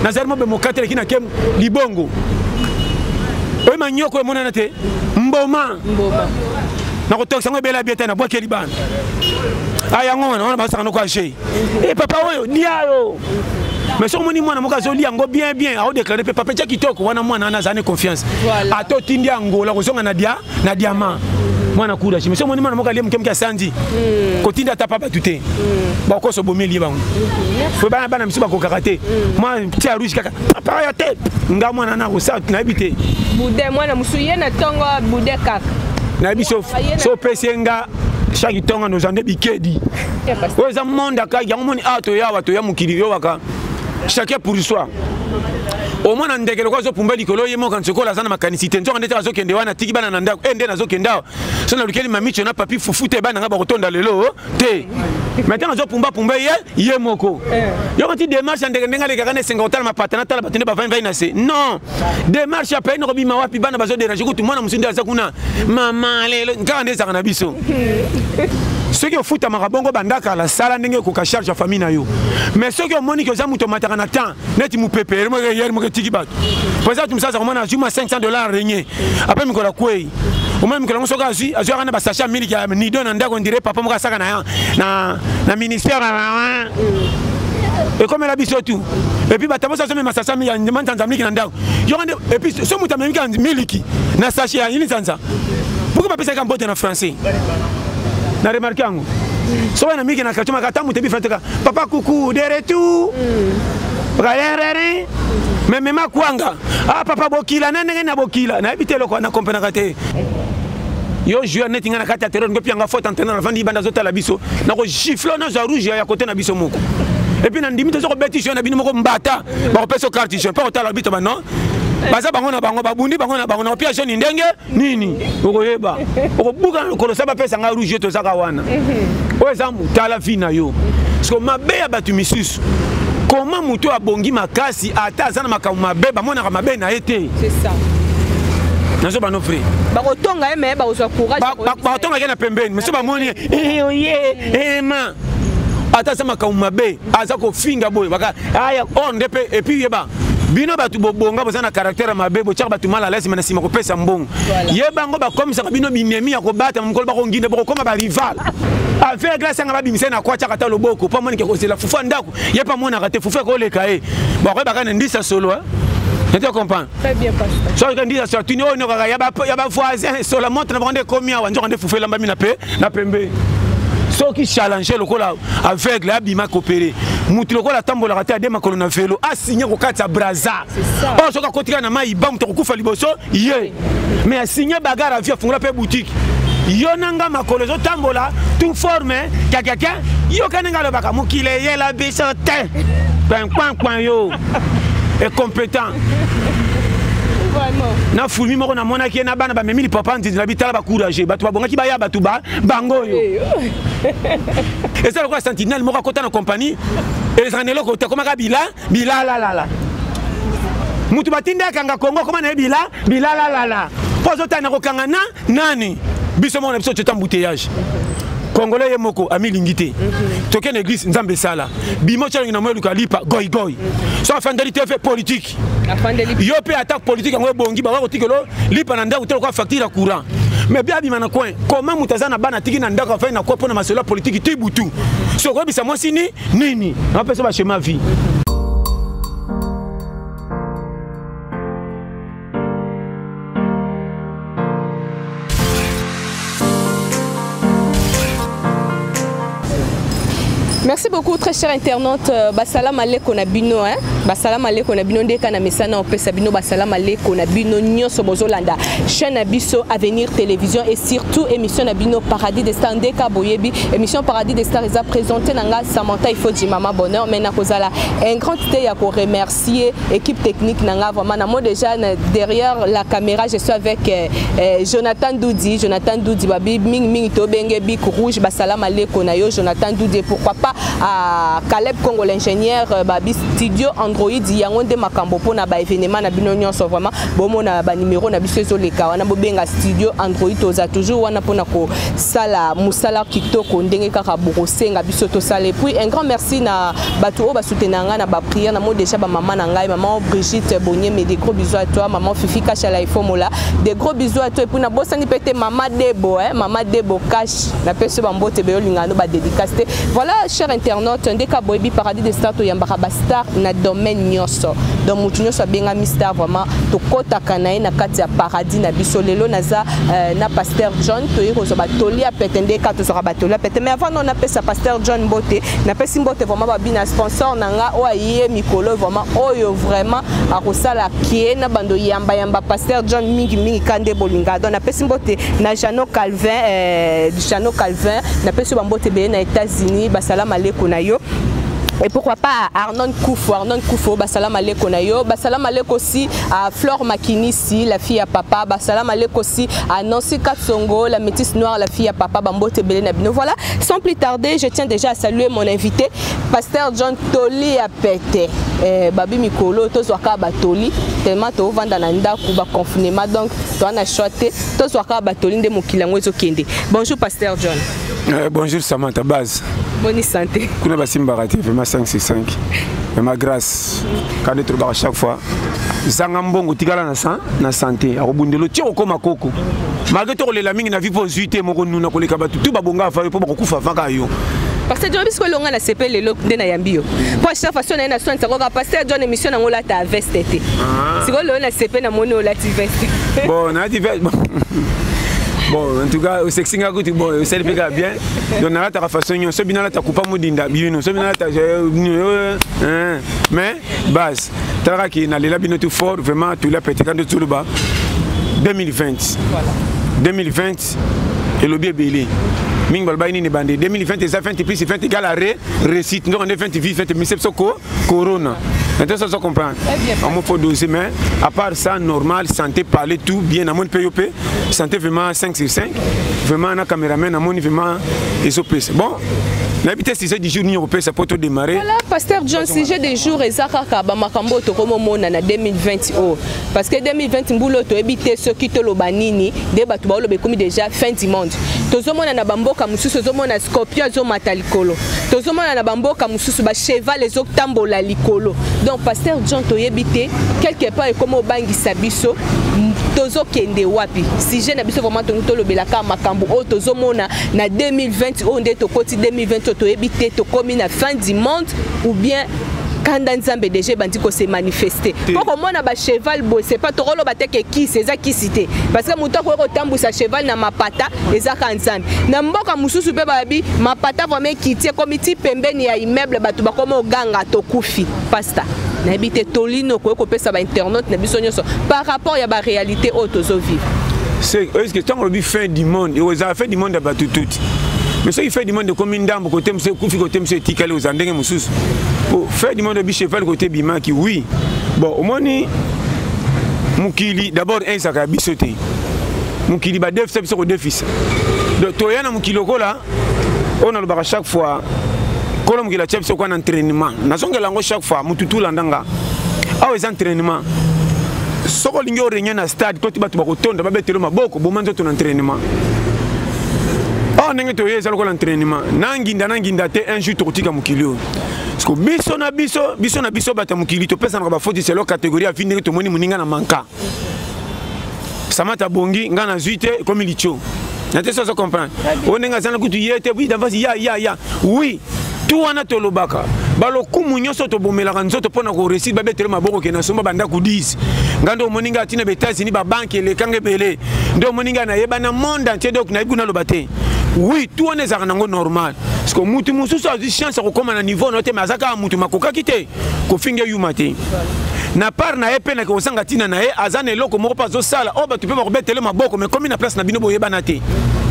nazali mobe mokateleki na kem libongo oyo manyoko emonana te mboma nakotokisa yango ebela bieta na bwakeli bana a ah, yango wana wana basaka noko age e eh, papa oyo lia yo mais soki omoni mwana moko azoli yango bien bien aodeklare mpe papa etya kitoko wana mwana wana azali ne confiance ata otindi angola kozonga na dia na diamant mwana kuda chimisi omoni mwana moko alie moke moke asandi hmm. kotinda ata pa bato te hmm. bakoso bomi elie bango hmm. po bana bana misu bakokaka te mwa ti ya rouge kaka papa ya te nga mwana na kosa nayebi te bude mwana mosusu ye na ntongo bude kaka nayebi so opesi ye nga shaki ntongo noza nde bikedi oyo eza monde akaki yango moni awa ah, toya awa toya mokili yowaka chacun pour soi omona ndeke lokola azopumba likolo ye moko nsokola aza na makanisi te nzoka ndete azokende wana atiki bana na ndako e nde nazokende awa so nalukeli mamicho na papi fufu te bana ngai bakotonda lelo te me ntango azopumbapumba ye ye moko eh. yoko ti demarche ya ndeke ndenge alekaka na esenga kotala mapata natala bato nde bavandi vai na se non demarche ya pei nakobima wapi bana bazo derange kutu mwana mosusu nde aza kuna mama lelo kaka nde ezaka na biso soki ofutamaka bongo banda kala sala ndenge ekoka charge ya famille na yo mais soki omoni ke oza moto omataka na temps neti mopepe ere moko eyeri moko etiki bato mpo eza bato mosusu aza komona azuma 500 dollar renye apres mikolo akwei omoni mokolo yango soki azwi azwi aka na basache ya miliki ya nido na ndako ndire papa moko asaka na, na, na ministère ekomela biso tu epuis bato mosi azomema sasa manzanza miliki na ndako yoko nde epuis so moto amemika miliki na sache ya yini nzanza pourkui bapesaka mbote na français na remarke yango soki na miliki na kartio maka ata moto ebifrateka papa kuku de retour mm. rarerere memema kwanga ah papa bokila na ndenge na bokila nayebi te eloko wana komprenaka te yo joueur neti ngai na kati ya terror ngopi yanga faute entraîneur avandi ibanda azotala biso nakogifle nazwa rouge ya kote na biso moko epuis nandimi toza kobeti joueur na bino moko mbata bakopesa yo carte jaune mpo kotala bito banon baza bango na bango babundi bango na bango na opia jaune ndenge nini okoyeba okobuka lokolo sa bapesa ngai rouge tozaka wana mhm. oyo eza tala vie na yo siko mabe ya bato misusu koma moto oyo abongi makasi ata aza na makambo mabe bamonaka mabe na ye te nazo bano vrai bakotonga ye me bakozwa courage bakotonga ye na pembeni mosusu bamoni ye eh, oye oh, ema eh, ata aza makambo mabe aza kofinga boye baka aya ah, or oh, nde mpe epuis yeba bino bato bobonga boza na caractère mabe botyaka bato mal alaise me na nsima kopesa mbongo ye bango bakomisaka bino binemi ya kobatama mokolo bakonginde bokokoma barival affaire glace yanga babimisa na kwa tyaka ata loboko mpo amonike kozela fufu ya ndako ye mpe amonaka te fufu ekoleka ye bakoyebaka na ndisa solo Nete comprendre Très bien pasteur. Soki kandi ya sorti ni ono kaka ya ba ya ba voisin sur la montre na bande komi awa njoka nde fufu elamba mina pe na pembe. Soki challenge lokola aveugle abima kopere motu lokola atambolaka te ade makolo na velo asigne kokatisa braza oyo soki akotika na mai ba moto akokufa liboso ye mais asigne bagare avi afungola mpe boutique yo na nga makolo ezotambola tu forme kakaka yoka na nga alobaka mokili eyela biso te kpankpankpan yo incompétent na fulmi moko namonaki ye na bana bamemi lipapa nzinzi na bitala bacourage bato babongaki baya bato ba bango oyo eza lokola sentinelle moko akota na kompani ezala na eloko te akomaka bila bilalalala moto batindi akanga kongo akoma na ye bila bilalalala mpo azotali na kokanga na nani biso moko na biso teta mbuteyage congolais ye moko amilingi te tokende eglise nzambe esala bimo calongi na moeluka lipa goigoi so afandeli te fe politike yo mpe atako politike yango ebongi baka kotikelo lipa na ndako te lokola facture ya courant mais bia abima na coin koma moto aza na bana atiki na ndako afai na koi mpo na masolo ya politiki ti butu so okoyebisa mwasi ni nini apesa bachema vie Merci beaucoup très cher internaute euh, basalama maleko na bino hein basala maleko na bino ndeka na mesana opesa bino basala maleko na bino nyoso bozolanda chaîne na biso avenir télévision et surtout émission na bino paradis des stars ndeka boyebi émission paradis des stars eza présentée na nga Samantha Ifodji maman bonheur mais nakozala un grand idée ya ko remercier remercier équipe technique nanga vraiment na moi déjà derrière la caméra je suis avec euh, euh, Jonathan Doudi Jonathan Doudi babi ming ming to benge bic rouge ba salam aleko na yo Jonathan Doudi pourquoi pas à Caleb Congo l'ingénieur euh, babi studio Android yango nde makambo pona ba événement na bino nyonso vraiment bomo na ba numéro na biso ezo leka wana bobenga studio Android toza toujours wana pona ko sala musala kitoko ndenge kaka bokosenga biso to sala et puis un grand merci na bato oyo basoutenaka ngai na bapriere na moi déjà bamama na ngai mama brigitte bonyeme de gros bisous à toi mama fifi kasha laifomola de gros bisous à toi epuis nabosani mpe te mama debo eh, mama debo kash napesi bambote beyolinga no badédicace te voilà cher internaute ndeke aboyebi paradis de star toyambaka bastar na domaine nyonso donc motu nyonso abengami star vraiment tokɔtaka na ye na kati ya paradis na biso lelo naza euh, na pasteur john toyei kozwa batoli ya pete ndeka tozwaka batoli ya pete mais avant no napesa pasteur john mbote napesi mbote vraiment babina sponsor na nga oyo aye mikolo vraiment oyo vraiment akosala kie na bando yamba yamba pasteur john mingi mingi ka nde bolinga donc napesi mbote na jano calvin eh, jano calvin napesi yo bambote ebele na états-unis basala maleko na yo et pourquoi pas Arnon Koufou, Arnon Koufou, Basalam Aleko Nayo, Basalam Aleko aussi à Flore Makinisi, la fille à papa, Basalam Aleko aussi à Nancy Katsongo, la métisse noire, la fille à papa, Bambote Belé Nabino. Voilà, Sans plus tarder, je tiens déjà à saluer mon invité, Pasteur John Toli Apete. Eh, babi mikolo tozwaka batoli tellement tovanda na ndako baconfinement donc toa na choix te tozwaka batoli nde mokili yango ezokende bonjour pasteur john euh, bonjour samantha base boni santé kuna basimbaka te vraiment 565 vraiment grâce quand netolobaka chaque fois zanga mbongo tikala na san na sante akobundelo ti okokoma koko malgre tokolela mingi na vi mpo ozwi te moko nuna koleka bato tu babonga ava yo mpo bakokufa avaka yo pasteur john biso elonga na sepe lelo nde nayambi yo mpo achita façon naye na soin sakoka pasteur john émission nango olata veste te ah. sikoyo lelo na sepe namoni olati veste bon nalati veste bon en tout cas osexi nga kutu bon osali mpe kaka bien donc nalataka façon nyonso soki binalata kupa modinda bino soki binalata mais base talaka ke nalela bino tout fort vraiment tola petika nde toloba 2020 2020 elobi ebele mingi balobaki nini bande 2020 eza 20 plus 20 égale à re réussite nzoko nde 20 vie 20 mise biso ko corona nte soso comprendre omo fo dose mais à part ça normal santé parler tout bien namoni mpe yo mpe santé vraiment 5 sur 5 vraiment na cameraman namoni vraiment ezopesa bon nayebi te sujet du jour nini okopesa mpo todemare voilà pasteur john sujet du jour eza kaka bamakambo oyo tokomomona na 2020 oyo parce que 2020 mbula oyo toyebi te soki toloba nini nde bato baoloba ekomi déjà fin du monde tozomona na bamboka mosusu ozomona scorpion ezomata likolo tozomona na bamboka mosusu bacheval ezotambola likolo donc pasteur john toyebi te quelque part ekomi obangisa biso tozokende wapi sujet na biso vraiment tongi tolobelaka makambo oyo tozomona na 2020 oyo nde tokoti 2020 oyo toyebi te tokomi na fin du monde ou bien kanda nzambe deja ebandi kose manifeste mpo komona bacheval boye sepa tokoloba te ke kisi eza kisi te parce que moto akoki kotambwisa cheval na mapata eza ka nzambe na mboka mosusu mpe babi mapata vraimen ekiti ekomi ti pembeni ya immeuble bato bakoma oganga tokufi pasta nayebi te toli nini okoki kopesa bainternaute na biso nyonso par rapport ya baréalité oyo tozo vivre eske ntango olobi fin du monde ozala fin du monde ya bato tuti mais soki fin du monde ekomi ndambo kote mosu ekufi kote mosu etikali ozala ndenge mosusu po fin du monde obi cheval kote ebimaki oui bon omoni mokili d'abord ezaka ya biso te mokili badefisa biso kodefisa donc toya na mokili lokola oyo nalobaka chaque fois kolo mokili atya biso kwa na entraînement nazongela yango chaque fois motu tulanda nga awa eza entraînement soki olingi orenye na stade toti bato bakotonda babetelo maboko boma nzoto na entraînement awa oh, ndenge toye eza lokola entraînement na nginda na nginda te un jour tokotika mokili oyo biso na biso biso na biso bato ya mokili topesanaka bafoti selo kategorie ya vi ndenge tomoni moninga na manka samata bongi ngai nazwi te ekomi litio na te sozo comprendre oyo ndenge azana kutu ye te puis d'avance ya ya ya oui tout wana tolobaka balokumu nyonso tobomelaka nzoto mpo na koresir babetele maboko ke nasomba bandako 10 ngai nde omoni ngai atina baetats-unis babanke elekanga ebele nde omoni ngai nayeba na monde entier donc nayebi kuna aloba te oui tout wana ezalaka nango normal parceke motu mosusu azwi chance ya kokóma na niveau na yo te me aza kaka motu makokaki te kofinga yuma te na part na ye mpe na kozanga ntina na ye aza na eloko moko mpe azosala oyo oh, bato mpe bakobetele maboko mais komi na place na bino boyebana te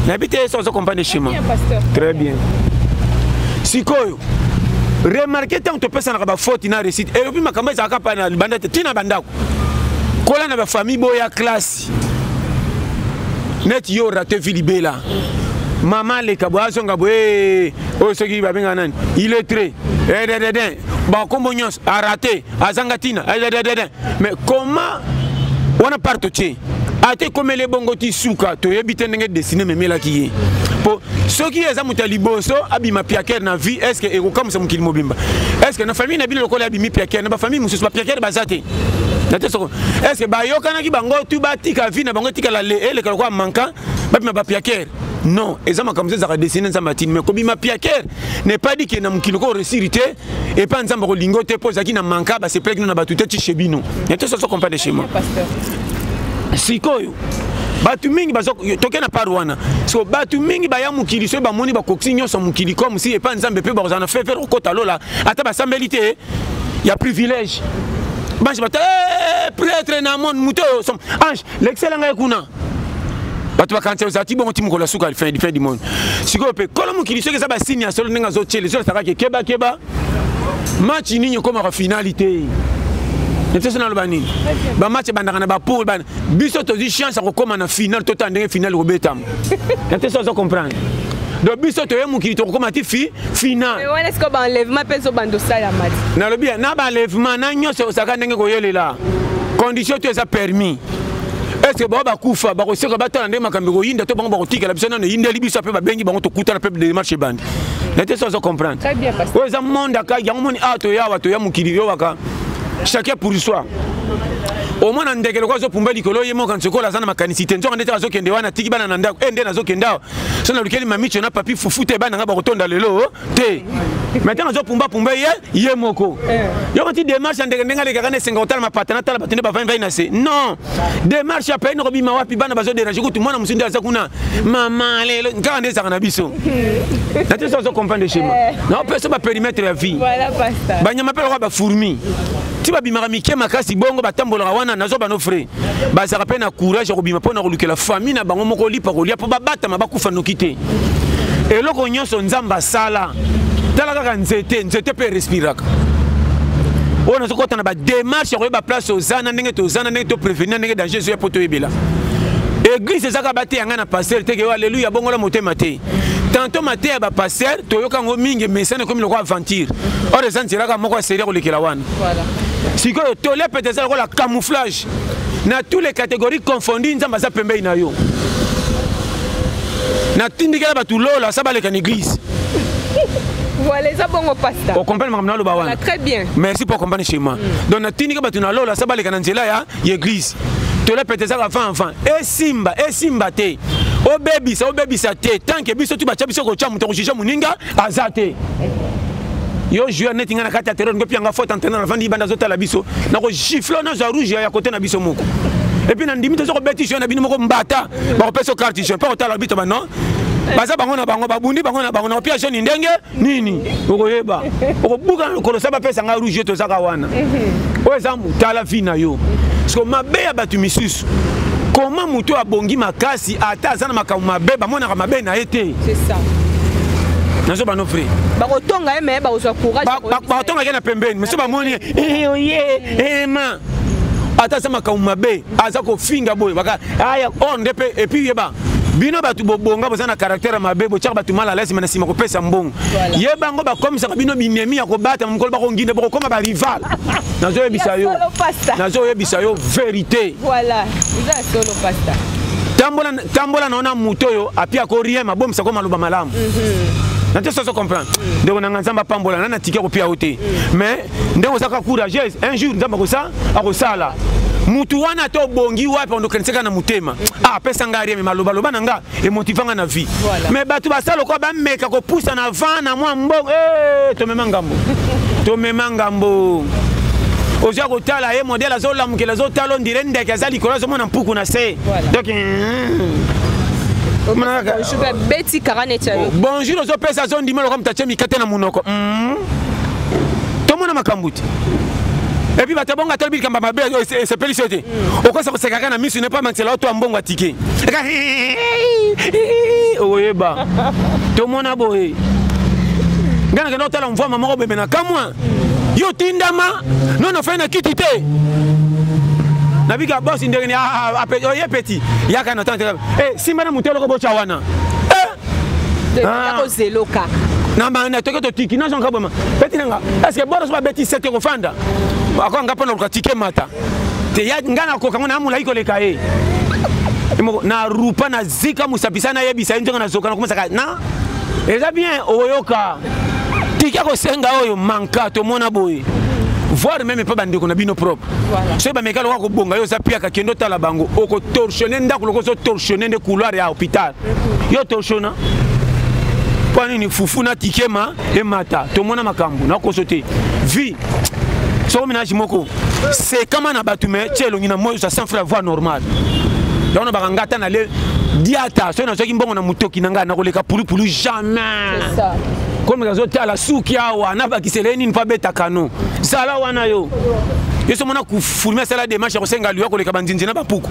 nayebi te so ozo comprendre chemin très bien sikoyo remarke ntango topesanaka bafoti na réussite elobi makambo ezalaka mpa na libanda te ntina bandako kola na bafamille boya classe net yo rate vie libela mama aleka boye azonga boye oyo soki babenga nani iletre edededen bakombo nyonso arate azanga ntina edededen mais comment wana part totie ata ekomeli ebongo ti suka toyebi te ndenge desine memelaki ye mpo soki eza moto ya liboso abima piakere na vie estce ekokamwisa mokili mobimba estce na famille na bino lokola abimi piakere na bafamille mosusu bapiakere baza te nate soko estce bayokanaki bango tu batika vi na bango etikala eleka lokola manka bapima bapiakere non eza makambo so ezalaka desine nzambe atini mai kobima piakere ne pas dit ke na mokili ko resiri te epai nzambe akolingo te mpo ezalaki na manka basepelaki no na bato te tishe bino nate soso comprendre chez moi sikoyo bato mingi toke na part wana so bato mingi baya mokili soki bamoni bakokisi nyonso mokili comme si epai nzambe mpe bakozala na fefe kokota lola ata basambeli te ya privilège banshi bato eh, pretre na monde moto oyo som ange lekisela ngai kuna bato bakanisa ozala ti bongo ti mokolo ya suka fin du monde sikoyo mpe kolo mokili soki eza basini ya solo ndenge azotyele ezolasaka ke kebakeba match nini ekomaka finali te nteso naloba nini bamatch ebandaka na bapole biso tozwi chance ya kokóma na finale totala ndenge finale kobetama na te so azo comprendre donc biso toye mokili tokokóma ti fi finalwana siko baenlèvement mpe ezobanda osalama ti nalobi ya na baenlèvement na nyonso ekosaka ndenge koyelela condition to eza permis est-ce que bango bakufa bakoseka batala ndenge makambo ekoyinda to bango bakotikela biso nano eyindeli biso mpe babengi bango tokutana mpe demarche ebandi na te so azo comprendre oyo eza monde akaki yango moni awa ah, toya awa toya mokili yowaka chacun pour soi omona ndeke lokola azopumba likolo ye moko nsokola aza na makanisi te nzoka ndete azokende wana atiki bana na ndako e nde nazokende awa so nalukeli mamicho na papi fufu te bana ngai bakotonda lelo te me ntango azopumbapumba ye ye moko eh. yoko ti demarche ya ndeke ndenge alekaka na esenga kotala mapata natala bato nde bavandi vai na se non demarche ya pei nakobima wapi bana bazo derange kutu mwana mosusu nde aza kuna mama lelo kaka nde ezaka na biso na te so azo comprendre schéma eh. naopesa baperimetre ya vie banyama mpe lokola bafourmi ti babimaka mike makasi bongo batambolaka wana nazo bano frais bazalaka mpe na courage ya kobima mpo na kolukela famille na bango moko lipa kolia mpo babatama bakufa noki te eloko nyonso nzambe asala tala kaka nzete nzete mpe respiraka oyo nazokota na bademarche ya koyeba place oza na ndenge toza na ndenge toprevenir ndenge danger ezoya mpo toyebela eglise ezaka bateya ngai na paster te keyo aleluya bongola motema te tanto mateya ya bapaster toyoka yango mingi mesana ekomi lokola aventure or eza nzelaka moko ya serie kolekela wana sikoyo tole pete eza lokola camouflage na tous les catégories confondu nzambe aza pembei na yo natindikela bato lola sa baleka na église voilà eza bongo pasta okomprendre makambo naloba wana très bien merci pour comprendre chez moi mm. donc natindika bato na lola sa baleka na nzela ya église tola pete ezaka avant avant esimba esimba te obebisa obebisa te tanke biso tu batya biso kotya moto kojuge moninga aza te yo joueur neti ngai na kati ya terror ngopi yanga faute entraîneur avandi ibanda azotala biso nakogifle nazwa rouge ya kote na biso moko epuis nandimi toza kobeti jeu na bino moko mbata bakopesa carte jeu mpo kotala bito bano baza bango na bango babundi bango na bango na kopia joni ndenge nini okoyeba okobuka na lokolo sa bapesa ngai rouge tozaka wana oyo eza tala vi na yo siko mabe ya bato misusu koma moto oyo abongi makasi ata aza na makambo mabe bamonaka mabe na ye te nazo bano vrai bakotonga ye me bakozwa courage bakotonga ye na pembeni mosusu bamoni ye eh, oye eh, ema ata aza makambo mabe aza kofinga boye baka aya ah, or oh, nde mpe epuis yeba bino bato bobonga boza na caractère mabe botyaka bato mal alaise me na nsima kopesa mbongo ye bango bakomisaka bino binemi ya kobatama mokolo bakonginde bokokoma barival nazoyebisa yo nazoyebisa yo verité tambola na yo na moto oyo api ako rien mabomisa ko maloba malamu mhm. na te soso comprendre ndeko na nga nzambe apambola na na tike kopia yo te mhm. mais ndenge oza kaka courageuse un jour nzambe akosa akosala mutu wana to obongi wapi ondokanisaka na motema ah, apesa ngai rien me malobaloba na nga emotiva nga na vie me bato basala lokola bameka kopusa na van na mwa mbongo eh, tomema ngambo tomema ngambo oza kotala ye modele azolamukela azotala ondire ndeke aza likolo azomona mpuku na se donc bonjour ozopesa azondima lokola moto atye mikate na monoko mm. tomona makambo te epuis bato ya bongo atali bilikamba mabe oyo esepelisi yo te okosa koseka kaka na misu nepo amakisela yo to ya mbongo atike eka okoyeba tomona boye ngai nakenda kotala mvwama moko bembe na kamwa yo tindama nono fai na kiti te nabika bosi ndenge ni oye peti yaka na tante nsima na moto eloko botya wana Ah. yako zelo kaka na banda toke totiki nazo nka boma beti nanga est ce que bora soba beti sete ko fanda ako nga pona ko tike mata te ya nga na ko kanga na mula iko leka e na rupa na zika musapisa na yebisa ye ntonga na zoka na kumasaka na eza bien oyoka tika kosenga oyo manka tomona boye voir meme mpe bandeko na bino propre soki bameka lokola kobonga yo oza piaka kende otala bango okotorsione ndako lokola ozotorsione nde couloir ya hôpital yo toshona mpo nini fufu na tikema emata tomona makambo nakoso te vie soko menage moko sekama na bato me tie elongi na moi oza sans frère voix normale yango na baka ngata na le diata soki nazwaki mbongo na motoki na ngai nakoleka pulupulu jamais komeka azotala suki awa nabakisele nini mpo abeta kano zala wana yo yo so mona kufulme asala demarche ya kosenga liwa koleka banzinzi na bapuku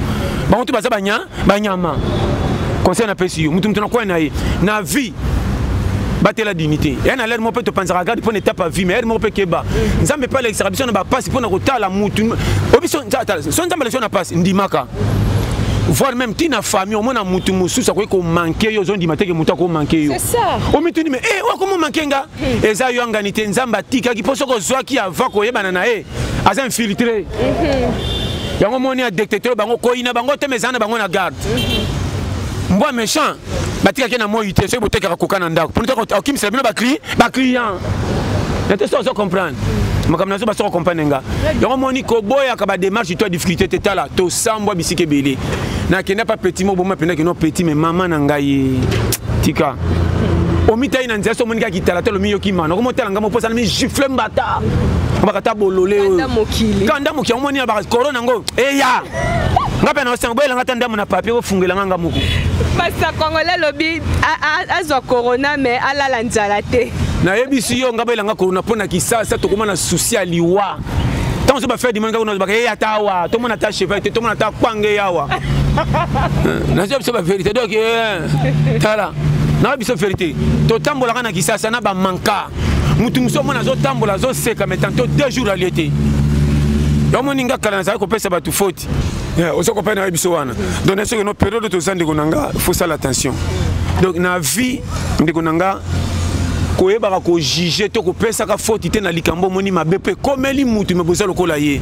bango tu baza banya banyama conseil napesi yo moto moto nakwai na ye na vie batela dignité ya na lere moko mpe topanzaka garde mpo na etape ya vie ma ere moko mpe keba nzambe mpe alekisaka biso na bapasi mpo na kotala motu oyo biso so nzambe alekisa na pasi ndimaka voire même ti na famille omona motu mosusu akoki komanke yo ozondima teke motu akomanke yo omituni me e eh, oyo akomomanke nga hmm. eza yoangani te nzambe atikaki mpo soki ozwaki avant koyebana na ye aza infiltre mhm. yango moni ya dictateur bango koyina bango te mezana bango na garde mhm. mbwa méchant batikaki na moi te soki botekaka koka na ndako mpo okimisela bino baclient na te so ozo comprendre makambo nazo basoko comprendre nga yango moni koboyaka badémarche to ya difficulté te tala tosambwa bisika ebele na kenda pa petit mo boma penda kino petit mais mama na ngai tika omitai na nzela so omoni kaka kitalatalo miyoki mana okomi otala ngai moposa na migifle mbata bakata bolole oyo ka ndambo kiango moni na bakorona yango eya nga mpe naosenga boyelanga ata ndambo na papie bofungelanga nga moko pasta congolais alobi azwa corona mais alala nzala te nayebisi yo nga boyelanga corona mpo na kisasa tokoma na susi ya liwa ntango so bafere dimoni kaka nazobaka ye ata awa tomona ata cheval te tomona ata kpange yawa eh, nazoya biso baverité donc eh, tala nayobi biso verité totambolaka na kisasa na bamanka motu mosusu omona azotambola azoseka mai tanto deux jours alie te omoni nga kala nazali kopesa bato foti Yeah, oza kopana nayebi biso wana donc na soki no periode toza ndeko na nga faut sala attention donc na vie ndeko na nga koyebaka kojuge to kopesaka foti te na likambo omoni mabe mpo ekomeli mutu me boza lokola ye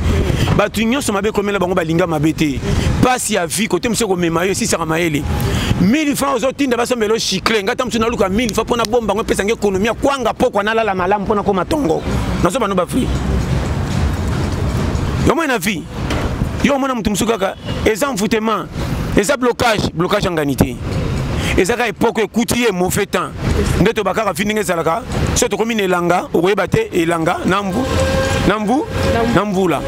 bato nyonso mabe ekomela bango balinga mabe te mpasi ya vie kote mosu ekomema yo esisaka mayele 1000 franc ozotinda basombela yo chicle ngai ta mosu naluka 1000 franc mpo nabomba yango epesanga ekonomi ya kwanga pokwa nalala malamu mpo nakoma tongo nazobano bafri yomoi na vie yo omona moto mosusu kaka eza envoûtement eza blocage blocage ya ngani te eza kaka epoke ekuti ye mauvais temps nde toba kaka fi ndenge ezalaka so tokomi na elanga okoyeba te elanga na mbu na mbu na mbula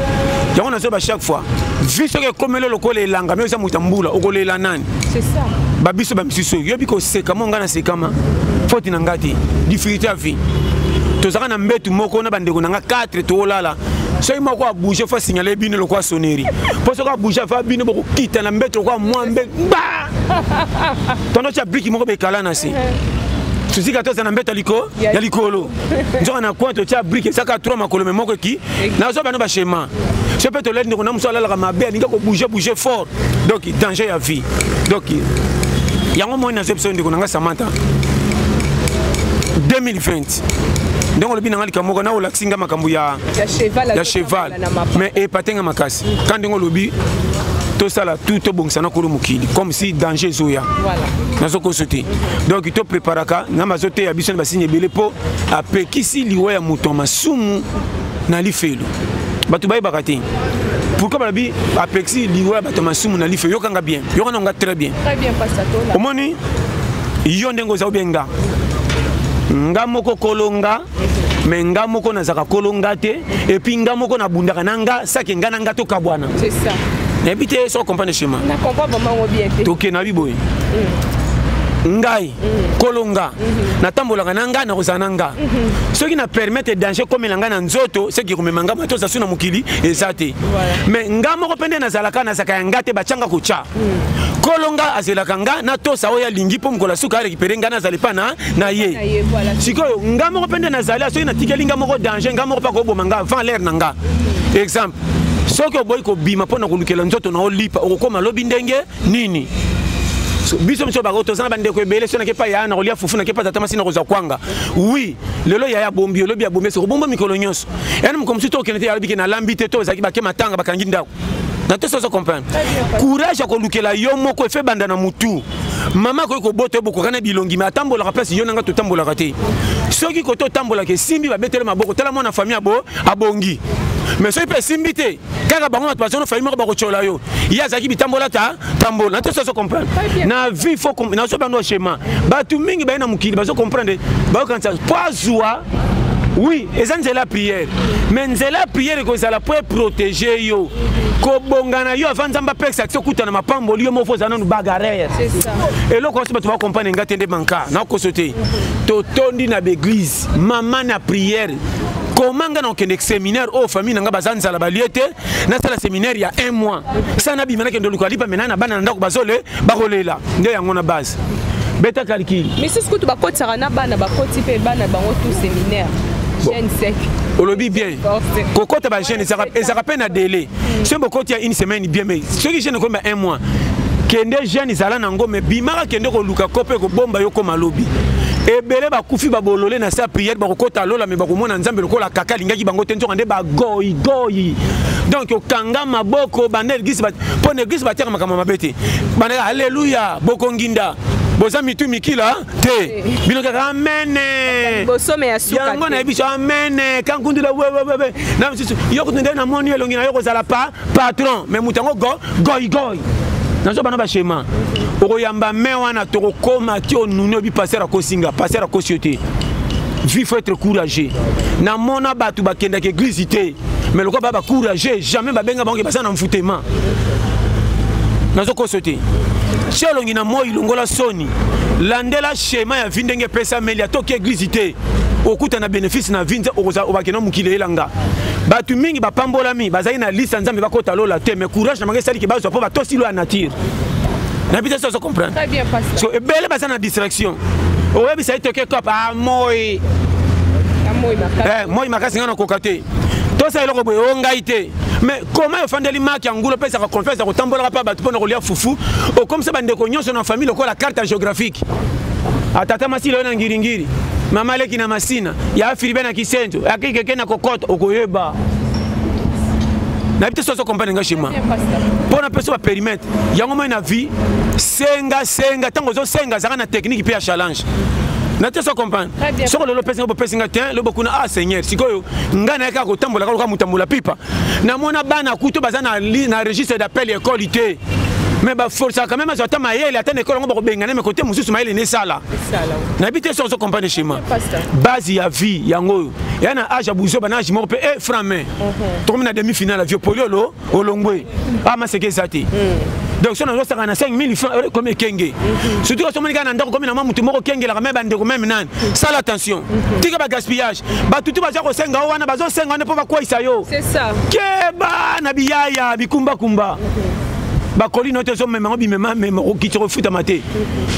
yango nazoyeba chaque fois vi soki ekomeli lokola elanga me oza moto ya mbula okolela nani babiso bamisusu oyo yobi koseka mo ngai nasekama foti na ngai te difficulté ya vie tozalaka na mbetu moko na bandeko na ngai 4 toolala soki moko abouge fo asignale bino lokola soneri mpo soki abouge afa bino bokokita na mbeto lokola mwambe ba tondo tya briki moko bekala na se susi ka toza na mbeto ya likolo nzoka na coin totya briki ezaka 3 makolo me moko eki nazwa bano bashema so mpe tolali ndeko na mosu alalaka mabe alingi kobouge bouge fort donc danger ya vie donc yango moi nazo biso ndeko na ngai samanta 2020 makasi ndenge olobi na ngai likambo moko na olakisi ngai makambo ya cheval mais epate ngai makasi ka ndenge olobi tosala tout tobongisa na kolo mokili comme si danger ezoya nazo koso te donc to préparaka nzambe azoteya biso na basini ebele mpo apekisi liwa ya moto ya masumu na lifelo bato bayebaka te pourquoi balobi apexi liwa ya bato ya masumu na lifelo yokanga bien yokana nga très bien omoni yo ndenge oza obie nga nga moko kolo nga me nga moko nazalaka kolo nga te epuis nga moko nabundaka na nga sake nga na nga tokabwana nayebi te so comprendre chemin toke na biboye mm. ngai kolo nga natambolaka na nga nakozala na nga soki na permettre danger ekomela ngai na nzoto soki ekomema ngai bato ozasu na mokili eza te mais nga moko mpe nde nazalaka nazalaka ya nga te batyanga kotya kolo nga azelaka nga natosa oyo alingi mpo mokolo asuka arekipere ngai nazali mpa na na ye sikoyo nga moko mpe nde nazali soki natikeli nga moko danger nga moko mpe akoboma nga avant l'aire na nga exemple soki oboyi kobima mpo na kolukela nzoto na olipa okokoma lobi ndenge nini biso biso bako tozana bandeko ebele so nakepa yaya na kolia fufu nakepa tata masi na kozwa kwanga wi lelo yaya bombi olobi ya bombi ese kobomba mikolo nyonso yani mokolo mosusu tokende te yalobi ke nalambi te to ezalaki bake matanga bakangi ndako na te sozo comprendre courage ya kolukela yo moko efe banda na mutu mama akoki kobota yo bokokana bilongi me atambolaka mpasi yo nanga totambolaka te soki kote otambolaka esimbi babetele maboko tala mwana famille abo abongi me soki mpe esimbi te kaka bango bato baza na famille moko bakotyola yo ye azalaki bitambola ta tambola na tosi azo comprendre na vie fo nazo bando schéma bato mingi baye na mokili bazo comprendre bayokanisa mpo azwa oui eza nzela ya priere mais nzela ya priere ekozala mpo eprotege yo kobonga na yo avant nzambe apekisa ti okuta na mapamboli yo moko oza nanu bagarere eloko nyonso bato bakompane nga te nde manka nakoso te totondi na baeglise maman na prière koma ngai nakokende séminaire oyo oh, famille na ngai baza nzala balie te nasala séminaire ya un mois sa nabima nakende oluka lipa mena na bana na ndako bazole bakolela nde yango na base beta calcule misusu kutu bakotisaka na bana bakoti mpe bana bango tout séminaire jeune sec olobi bien kokota ba jeune ezaka pe na délai soki bokoti ya une semaine bien mais soki jeune okomi ba un mois kende jeune zala na ngo mais bimaka kende koluka ko mpe kobomba yo koma lobi ebele bakufi babolole na sa priere bakokota lola me bakomona nzambe lokola kaka alingaki bango te nzoka nde bagoyigoyi donc okanga maboko banda eglise mpo na eglise batiaka makambo mabe te banda aleluya bokonginda boza mitu mikila te bino kaka amene yango nayebi biso amene kankundula wewewewe na misusu yo kutu nde namoni elongi na yo kozala pa patron mais moto yango go goigoi nazo bana bashema okoyamba me wana tokokoma ti onuni oyebi paster akosinga paster akosi yo te vie faut être courageux namona bato bakendaka eglise te mais lokola ba bacourageux jamais babenga bango baza na mfutema nazokoso te ti olongi na moi longola soni nini landela shema ya vi ndenge epesameli atoki eglize te okuta na bénéfice na vie obakende na mokili eyelanga bato mingi bapambolami bazali na liste ya nzambe bakota lola te mais courage na bango esaliki bazwa mpo batosi lo ya nature na bita soso comprendre so ebele baza na distraction oyebisa ye toke cop a moi moi makasi ngai nakoka te tosa eloko boye o ngai te mais koma ofandeli maki ya ngulu opesaka confiance ya kotambolaka mpe bato mpo na kolia fufu okomisa bandeko nyonso na famille lokola carte ya géographique atata masila oyo na ngiringiri mama aleki na masina ya afiribe na kisento akikeke na kokota okoyeba nayebi te soso comprendre nga chez moi mpo na peso baperimetre yango moi na vie senga senga ntango ozosenga azalaka na technique mpe ya challenge na te so comprendre soko lelo opesi nga bopesi nga te lobo kuna ah seigneur sikoyo ngai nayaka kotambola kaka motambola pipa namona bana kutu baza na, na registre d'appel ya ekole te me baforsaka meme azwa ata mayele ata na ekole yango bakobengana me kote mosusu mayele nesala nayebi te soki ozokomprane chema base ya vie yango oyo ya na age ya buzoba na age moko mpe e frame mhm. tokomi na demi finale ya vieux poliolo olongwe amaseke ah, eza te hmm. donc so nazosaka na 5000 franc euh, comme ekenge mhm. surtout osomoni kaka na ndako komi na mwa motu moko okengelaka me bandeko meme nani sala attention mhm. tika ba gaspillage batutu baza kosenga yo wana bazosenga wana mpo bakweisa yo keba na biyaya bikumbakumba bakoli no te ozomema yango bimema mema okokitisa kofutama te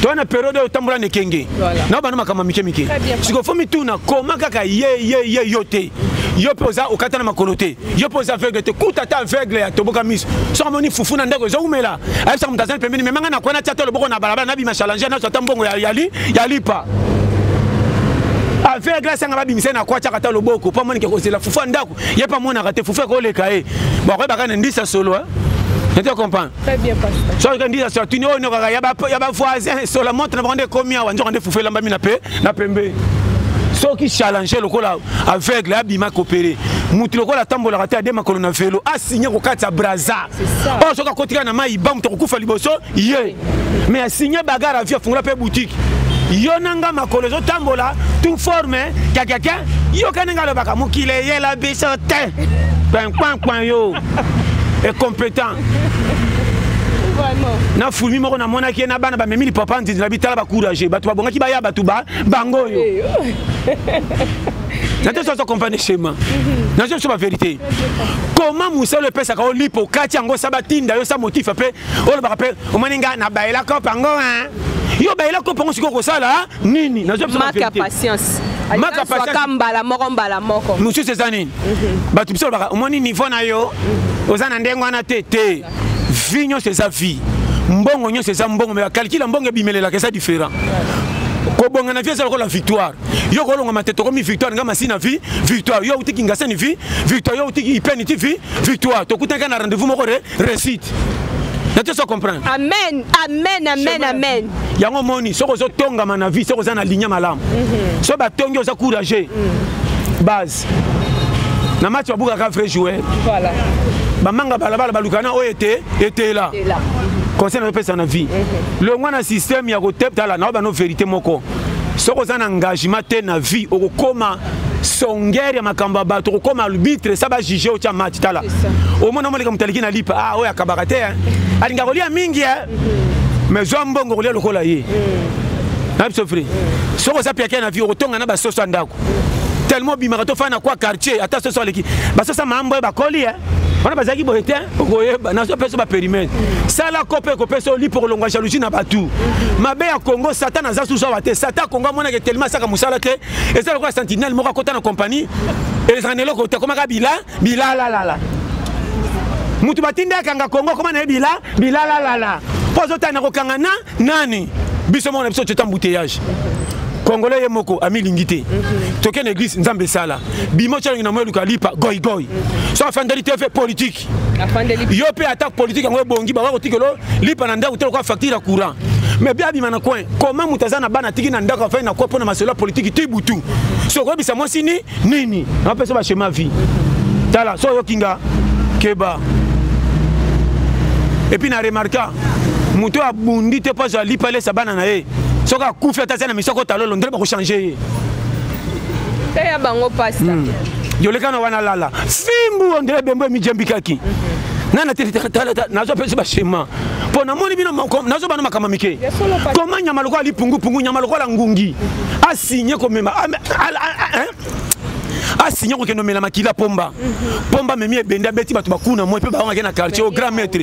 toya na periode oyo otambola na ekenge na bana makambo ya mike mike sikoyo fo mituna koma kaka ye ye ye yo te yo mpe oza okata na makolo te yo mpo oza aveugle te kuta ata aveugle ya toboka miso soki amoni fufu na ndako ezowumela ayebisaka moto azali pembeni memanga na kwana atia te loboko na balabala nabima challenge naso ata mbongo ya lipa affaire grâce anga babimisa na kwatiaka ata loboko mpo amonike kozela fufu ya ndako ye mpe amonaka te fufu ekoleka ye bakoyebaka na ndisa solo eh? Je te comprends. Très bien, pasteur. Soki kandi ya soki ni ono kaka ya ba ya ba voisin sur la montre na bande komia wanjo kande fufela mbami na pe na pembe. Soki challenge lokola aveugle abima kopere motu lokola atambolaka te ade makolo na velo asigne kokatisa braza oyo soki akotika na mai ba moto akokufa liboso ye mais asigne bagare avi afungola mpe boutique yo na nga makolo ezotambola tu forme kakaka yoka ndenge alobaka mokili eyela biso te kpankpankpan yo incompétent na fulmi moko namonaki ye na bana bamemi lipapa nzinzi na bitala bacourage bato babongaki baya bato ba bango oyo nazo soso comprendre schéma nazo soso ba vérité comment musala epesaka o lipo kati yango sa batinda yo sa motif mpe olobaka mpe omoni ngai nabayela kope yango yo bayela kope yango sikoyo kosala nini nazo biso ba vérité maka patience mbala moko mbala moko mosusu eza nini bato biso olobaka omoni niveau na yo oza na ndenge wana te te vie nyonso eza vie mbongo nyonso eza mbongo me bakalkile ya mbongo ebimelelaka eza différent kobonga na vie eza lokola victoire yo kolonga mate tokomi victoire nga masi na vie victoire yo auti kingasani vie victoire yo auti ipeni ti vie victoire tokutanaka na rendez-vous moko re réussite nati oso comprendre amen amen amen amen yango omoni soki ozotongama na vie soki oza na ligne malamu mhm. soki batongi oza courageux mhm. base Merci. Na match wa buka ka vrai joueur. Voilà. Bamanga balabala balukana oyo ete etela. Etela. Conseil na pesa na vie. Mhm. Longwa na système ya ko tepta la na ba no vérité moko. Soko za na engagement te na vie okokoma songere ya makambo ya bato kokoma arbitre sa bajuge otya match tala omona moleka moto aleki na lipa a ah, oyo akabaka te alinga kolia mingi mhm. mais zwa mbongo kolia lokola ye mhm. na biso fri soki oza piake na vie okotonga na basoso ya ndako tellement obimaka tofana na kwa quartier ata soso aleki basoso ya mambo ye bakoli e wana bazalaki boye te okoyeba nazo peso baperimene sala kope ekopesa oli mpo kolongwa jalousie na bato mabe ya congo satan aza susu awa te satan congo amonake telema asaka mosala te eza lokola sentinelle moko akota na compagnie ezalaka na eloko te akomaka bila bilalalala moto batindi akanga kongo akoma na ye bila bilalalala mpo azotali na kokanga na nani biso moko na biso teta embouteillage congolais ye moko amilingi te mhm. toke na église nzambe esala bimo calongi na moyo luka lipa goigoi mhm. so afandeli te fe politique yo mpe attaque politique yango ebongi bakoki kotikelo lipa na ndako te lokola facture ya courant mais bia abima na coin koma moto aza na bana atiki na ndako afai na kua mpo na masolo ya politiki ti butu soki oyebisa mwasi ni nini napesa ba chemin vie tala so oyoki nga keba epuis na remarka moto oyo abundi te mpo azwa lipa alesa bana na ye soki akufi ata aza na misoko talolo ndele bakochange ye eya bango pasta hmm. yoleka na wana lala fimbu ondele bembo emijembikaki nana te nazo pesi bashema mpo namoni bino nazo bana makambo mike koma nyama lokola lipungupungu nyama lokola ngungi asigne komema asinya kokende omela makila pomba pomba memi ebende abeti bato bakuna moi mpe baongaki na quartier au grand maître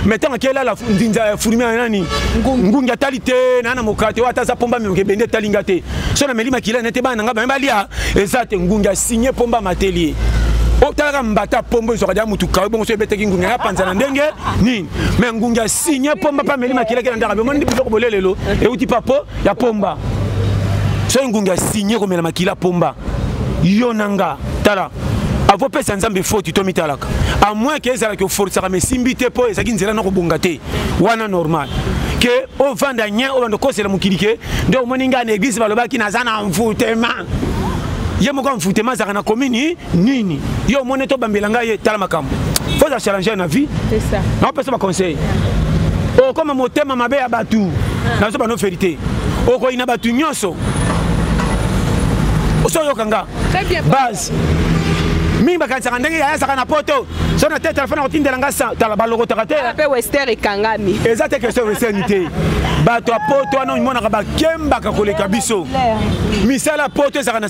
mais ntango akelala ndinza ya furmi ya nani ngungi atali te naa na mokala te oyo ata aza pomba memoke ebende etali nga te so nameli makila nete bana na ngai bame balia eza te ngungi asigne pomba mateli ye otalaka mbata pombo ezwaka dia motu kawe bongo so ebetaki ngungi ya panza na ndenge nini me ngungi asigne pomba mpe ameli makila ke na ndaka bemoni biloko bolelelo euti papo ya pomba soki ngungi asigne komela makila pomba yo na nga tala akopesa nzambe foti to mitalaka amoin ke ezalaki oforisaka ma esimbi te mpo ezalaki nzela na kobonga te wana normal ke ovanda nye obanda okosela mokili ke nde omoni ngai na eglise balobaki naza na mvutema ye moko ya mvutema azalaka na komini nini yo omoni to bambela ngai ye tala makambo faut za challenger na vie c'est ça na pesa ba conseil o koma motema mabe ya batu ah. na zo ba no verité o ko ina batu nyoso o so yo kanga base mingi bakanisaka ndenge yaya azaka na poto so na te telefone akotindela nga tala balokotaka te mpe wester ekangami eza te question western te bato ya poto wana omonaka bakembaka koleka biso misala ya poto ezalaka na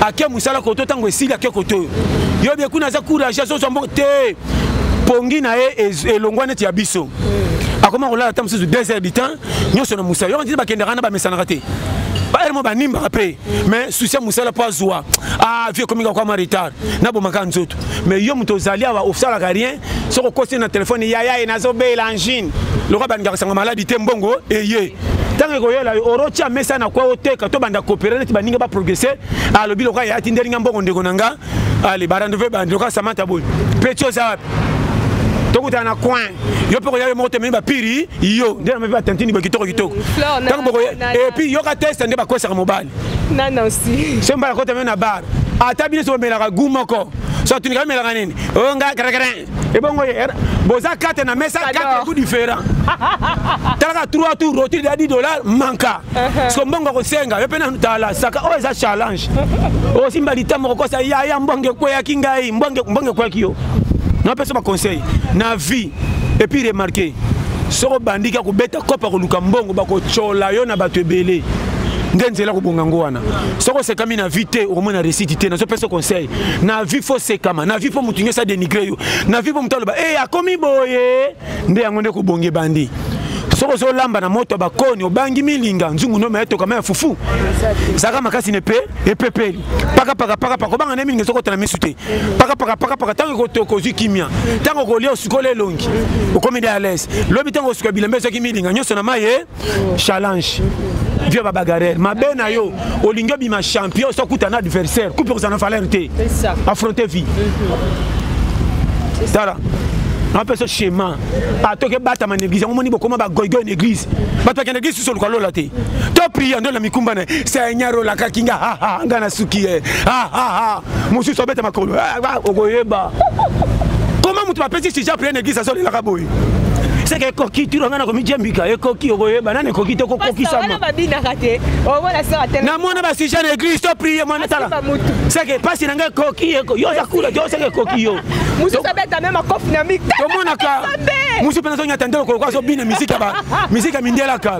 ake mosala koto ntango esili ake koto oyo yo bie kuna aza courage azozwa mboka te pongi na ye elongwa neti ya biso akoma kolala ata mosusu 2 heures du temps nyonso na mosala yo ndini bakendaka na bamesanaka te baere mo banimbaka mpe mais susi ya mosala mpo azwa ah vie ekomika kwama retard nabomaka nzoto mais yo moto ozali awa osalaka rien soki okosi na telefone yaya ye nazobela angine lokola bandika kosanga maladi te mbongo eye ntango ekoyela yo orotya mesa na kwa oteka tobanda kopere neti baninga baprogrese alobi lokola yaya tindeli nga mbongo ndeko na nga ale barandeve bandi lokola samanta boye peti oza wapi tokutana na coin yo mpe koya yo moko tomemi bapiri yo nde namepi batantini boye kitoko kitoko ntango bokoye epuis yoka teste nde bakosaka mobali semba nakota meme na bare ata bino somelaka gu moko so atuni kaka melaka nini oyo oh, nga krekre ebongo ye boza kate na mesa kate ku différent talaka trois tour rotire ya 10 dollar manka uh-huh. siko mbongo akosenga yo mpe nanu tala saka oyo oh, eza challenge osimba oh, litambo kokosa yaya mbongo ekweyaki ngai mbongo ekweyaki yo napesa baconseil na vie et puis remarquer soko bandiki ya kobeta kopa koluka mbongo bakotyola yo na bato ebele nde nzela kobonga yango wana soki osekami na vie te okomona resiti te nazopesa conseil na vie fo osekama na vie mpo motu nyonso adenigre yo na vie mpo motu aloba e akomi boye nde yango nde kobonga ebandi soki ozolamba na moto ya bakoni obangi milinga nzungu nome ya tokama ya fufu zaka makasi na epe epepeli pakapaka pakapaka obanga nde milinga ezokota na misu te pakapaka pakapaka ntango ekotoka ozwi kimia ntango okolia osukoli elongi okomi de alaise lobi ntango osuka bilamba ezwaki milinga nyonso na mai ye challenge vieux babagarere mabe na yo olingi obima champion so okuta na adversaire kupe kozala na valeur te affronte vie tala napesa schéma atoki ebatama na église yango moni bokoma bagoigoi na église bato bakenda église susu oluka lola te to priya nde na mikumba na seigneur olakaki nga nga na suki ye eh. mosusu abeta makolo ah, ah, okoyeba koma moto bapesi sija pene eglise azolelaka boye seke ekoki tiro ngai nakomijembika ekoki okoyeba nani ekoki te kokokisama namona basija na eglise to prie mwana tala seke mpasi na ngai ekoki yo oza kula yo seke ekoki yo tomonaka mosusu mpe nazonyata nde lokolo kwa azobina miziki ya mindelaka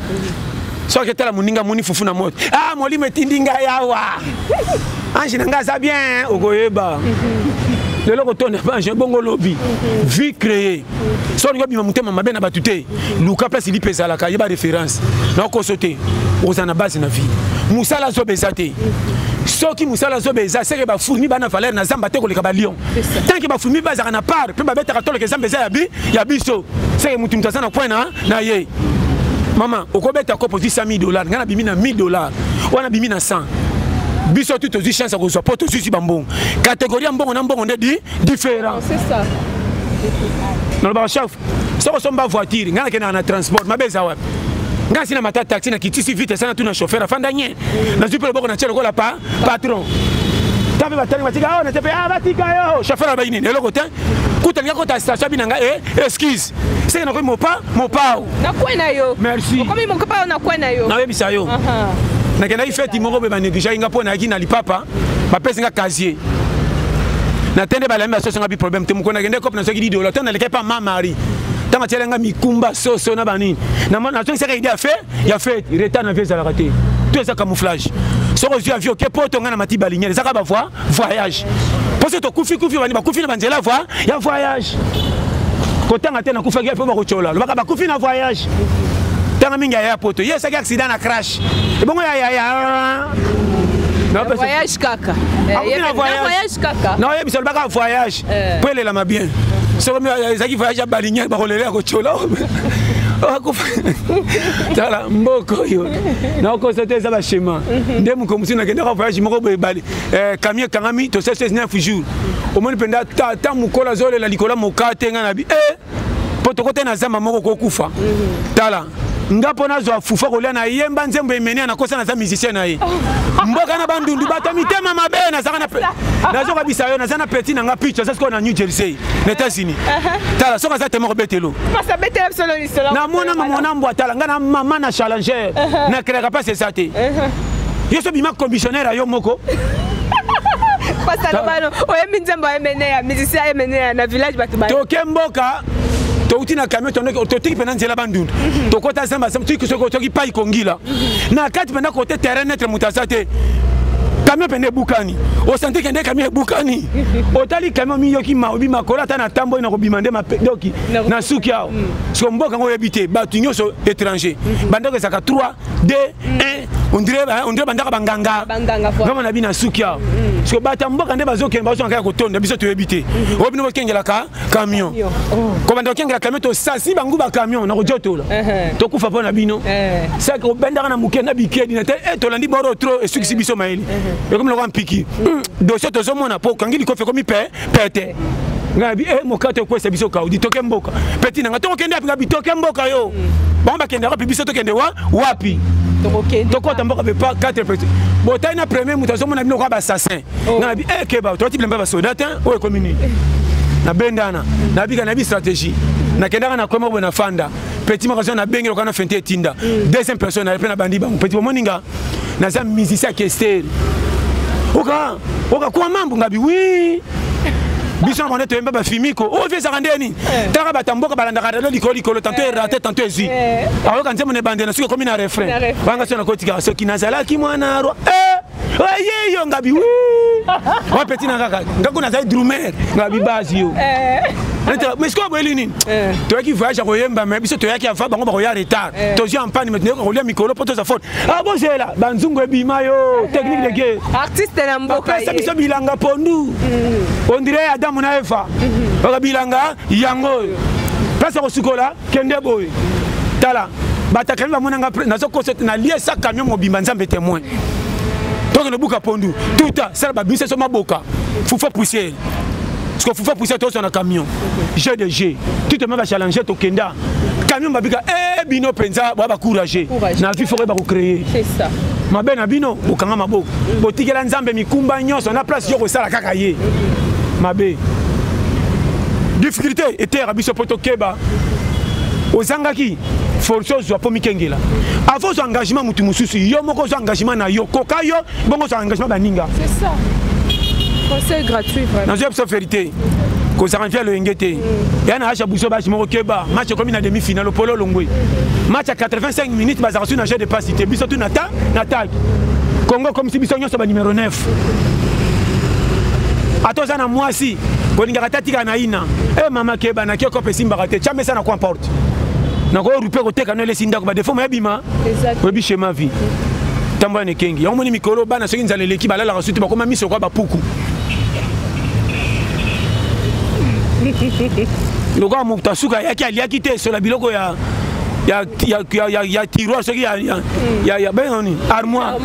soki etala moninga moni fufu na moto ah molimo etindi ngai awa ange na ngai aza bien okoyeba lelo kotonda bange bongo lobi vie créé so olingi obima motema mabe na bato te luka place lipe ezalaka yeba référence na okoso te oza na base na vie mosala zoba eza te soki mosala zoba eza seke bafulmi bana valeur na zamba te koleka balion tanke bafulmi bazalaka na part mpe babetaka toleka ezamba eza ya biso seke motu moto aza na point na na ye mama okobeta kopo ozwi 100000 dollars ngai nabimi na 1000 dollars wana bimi na 100 biso tu tozwi chance ya kozwa mpo tozwisi bambongo kategori ya mbongo na mbongo nde di différent nalobaka chef soko somba voiture ngai nakendaka na transport mabe eza wapi ngai asi na mata taxi na kitisi vite asana tu na chauffeur afanda nye nazwi mpe loboko na tie lokola pa patron ta mpe batali batika awa na te mpe a batika yo chauffeur abayi nini eloko te kuta linga kota station abi na ngai e excuse Christ. Seke nakomi mopa mopao. Na kwe na yo. Merci. Okomi mopao na kwe na yo. Na yebisa yo. Nakendaki feti moko be banegligea nga mpo nayaki na lipapa bapesi nga casier natende balami basoso nga bi problème te mokolo nakende kope nasoki didolo to nalekaki pa ma marie ntango atyela nga mikumba soso na banini nazongisaka ide ya fe ya fe retard na vie ezalaka te to eza camouflage soki ozwi avio ke poto ngai na mati balingele ezaka bavoi voyage mposo tokufi kufi bani bakufi na banzela voi ya voyage kotanga te nakufaki mpo bakotyola lobaka bakufi na voyage tanga mingi yaya poto ye esaki accident na crash ebongo ya yaya voyage kaka akufi na voyage kaka na oyebisa lobaka voyage mpo elelama bien soko ezalaki voyage ya balingi bakolela ya kotyola tala mboka oyo nakokosa te eza bashema nde mokolo mosusu nakendaka voyage moko boye bale eh, kamio ekangami tosali 19 jours omoni mpenza tata mokolo azolela likolo ya mokaa te ngai na bi e eh, mpo tokote na zamba moko kokufa mhm. tala nga mpo nazwa fufa kolia na yemba nzembo emenia nakosa naza musicien na ye mboka na bandundu bato ya mitema mabe nazaka nazokabisa yo naza na petit na nga pic aza sikoyo na new jersey na états-unis uh-huh. tala soki aza tema kobetelo na mwana mama na mbwa tala ngai na mama na challenger uh-huh. na kelaka mpasi eza te uh-huh. yo so bima commissionnaire ya yo moko pasalobano oyembi nzembo emeneya musicien emeneya na village bato toke mboka touti na camion totiki mpena nzela bandundu mhm. tokota zamba soki pai kongila mhm. na kati mpena kote terrain netre moto aza te camion mpena ebukani osante kende camion ebukani otali camion miyoki maobi makolo ata na tamboli na kobima nde mapedoki na suki awa mm. siko mboka yango oyebi te bato nyonso étranger mhm. bandako ezalaka 3 2 1 ondire bandaka banganga vraimen na bino na suki awa mm. siko bato ya mboka nde bazokende bazonga kaka kotonda biso toyebi te mhm. oyo bino bokengelaka camion oh. kobanda kokengela camion tosasi bango bacamion na kojotola uh-huh. tokufa mpo na bino uh-huh. saki obendaka na moke na bikedi na te eh, tolandi boro tro esukisi uh-huh. biso mayele ekomi lokola mpiki mm. dosie tozomona mpo okangi likofi ekomi pe pete ngai bi eh mokate okwesa biso kaudi toke mboka peti nanga tokokende wapi ngai bitoke mboka yo bango bakendaka wapi biso tokende wa wapi tokota mboka mpe pa 4 peti botali na premier moto azomona bino kwa basasin oh. ngai bi eh keba tolati bilamba basoda te oyo ekomi nini nabendana nabika nayebi stratégie nakendaka na kwema boye na fanda petit magasin na bengi lokana fente etinda mm. deuxième personne na pe na bandi bango petit bomoni nga naza musicien ya kester oka oka kwa mambo ngabi wi biso na bande toyemba bafimiko oyo oh, vie ezaka nde nini eh. taka bato ya mboka balandaka rado likolo likolo tanto eh. erate tanto ezwi eh. ayoka nzembo na ebandela soki ekomi na refrain banga soki nakotikaka soki nazalaki mwana roi oye yo ngabi wa peti na kaka ngako nazali drumer ngabi basi yo mais sikoyo boyeli nini toyaki voyage ya koyemba mais biso toyaki ava bango bakoya retard eh. tozwi ampani mais toyoka kolia mikolo mpo toza faute ah bozela banzungu ebima yo eh. technique de guerre artiste na mboka apesa biso bilanga pondu mm. ondire adamu na eva mm-hmm. oka bilanga yango oyo place ya kosukola kende boye tala batakami bamonanga nazokosa ete nalie sa camion mobimba nzambe témoin tokende buka pondu tuta sala babimisa so maboka fufa poussière sikofufa puisa tozwa na camion jeu de jeu tuteme bachallange tokenda camion babika e bino mpenza bwa bacourage na vie foko bakocreye mabe na bino bokanga maboko mm. botikela nzambe mikumba nyonso na place yo kosala kaka ye mm. mabe difficulté eteyaka biso mpo tokeba ozangaki force ozwa mpo mikengela avant ozwa engagement motu mosusu yo moko ozwa engagement na yo koka yo bongo ozwa engagement baninga conseil gratuit vraiment nazoya biso verité kozala mpe aloyenge te mm. ya na asha buso basi moko keba match ekomi na demi finale opolo olongwe match ya 85 minutes bazalaka su na jeu de passe te biso tu na ta na tag congo ekomisi biso nyonso ba numero 9 ata oza na mwasi kolingaka te atika na ina e mama keba na kiokope esimbaka te camesa na coin porte nakorupe koteka no elesi ndako badefo mayebima oyebi shema vie ntango wana ekengi yango moni mikolo bana soki nzala eleki balalaka suti bakoma miso kwa bapuku lokola moto asuka ayaki aliaki te esola biloko ya ya, ya, ya, ya, ya tiroir soki ya, ya, mm. ya, ya benga nini armoire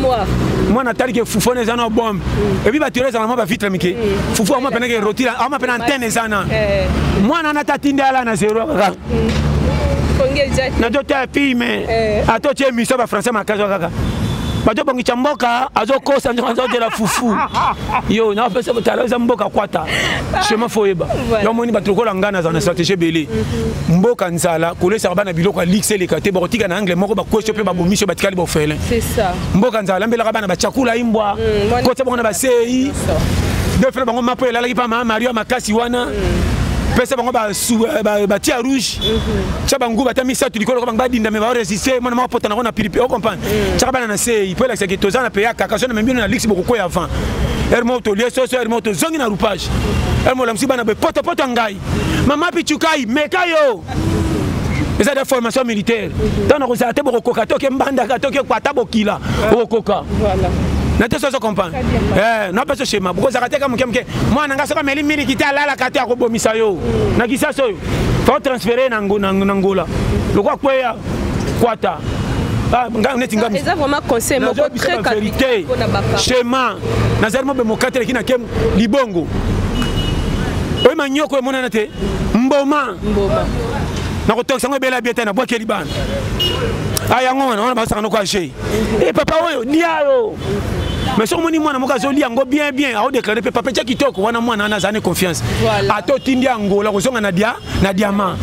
mwana atali ke fufu wana eza na bombe mm. ebi bato ezala mwa bavitre mike mm. fufu ama mpenake rotira ama mpe na antene eza na eh. mwana wana tatinda ala na zero kaka nazo tala filme eh. ata otie émission bafrançais makasi kaka bato bongisa mboka azokosa nzoko azodela fufu yo napesa botala eza mboka kwata chemin fo oyeba yo omoni bato lokola ngai nazala na stratégie ebele mhm. mboka nzala kolesaka bana biloko ya lixe eleka te bakotika na angle moko bakwesio mpe babomisio batikali bofele mboka nzala lambelaka bana bacakula imbwa mm, kotya bango na basei defele bango mapo elalaki mpa maa mario makasi wana mm. pesa bango euh, batia ba, ba rouge mhm. tya bango bata misato likolo bango badinda me baresiste mwana moko apota nango na pilipe ocomprendre mhm. tyaka bana na sei mpo elakisaki toza na peyaka kasi na memi bino na lix bokokwei avant ere moko tolie soso ere moko tozongi na roupage ere moko olamusi bana boye potopoto ya ngai mama pichukai meka yo eza de formation militaire ntango nakozala te bokokoka toke mbandaka toke kwata bokila bokokoka na te soso comprendre Eh, na peso shema bokozaka te ka moke moke mwana nga soki ameli miliki te alalaka te akobomisa yo na kisasi oyo fao transfere na ngola lokwa kweya kwata ah, ngai neti ngamiverité shema nazali mobemba okateleki na ke libongo oyo manyoko emonana te mboma nakotokisa yango ebela bie te nabwakeli bana a ah, yango wana wana basaka noko age e papa oyo lia yo mais soki omoni mwana moko azoli yango bien bien aodeklare mpe papa etya kitoko wana mwana wana azali confiance ata otindi ya ngola kozonga na dia na diamant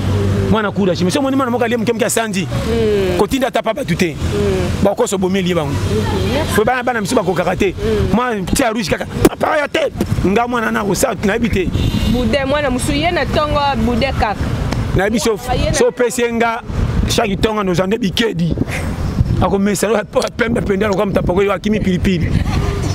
mwana courage mais soki omoni mwana moko alie moke moke asanzi hmm. kotinda ata pa bato te hmm. bakoso obomeli ye bango hmm. po bana bana misu bakokaka te mwa tia rouge kaka papa ya te nga mwana na kosa nayebi te bude mwana mosu ye na ntongo bude kaka nayebi so opesi ye nga shaki ntongo nozwa nde bikedi akomesana oyo pembe mpenza lokola moto apakoli akimi pilipili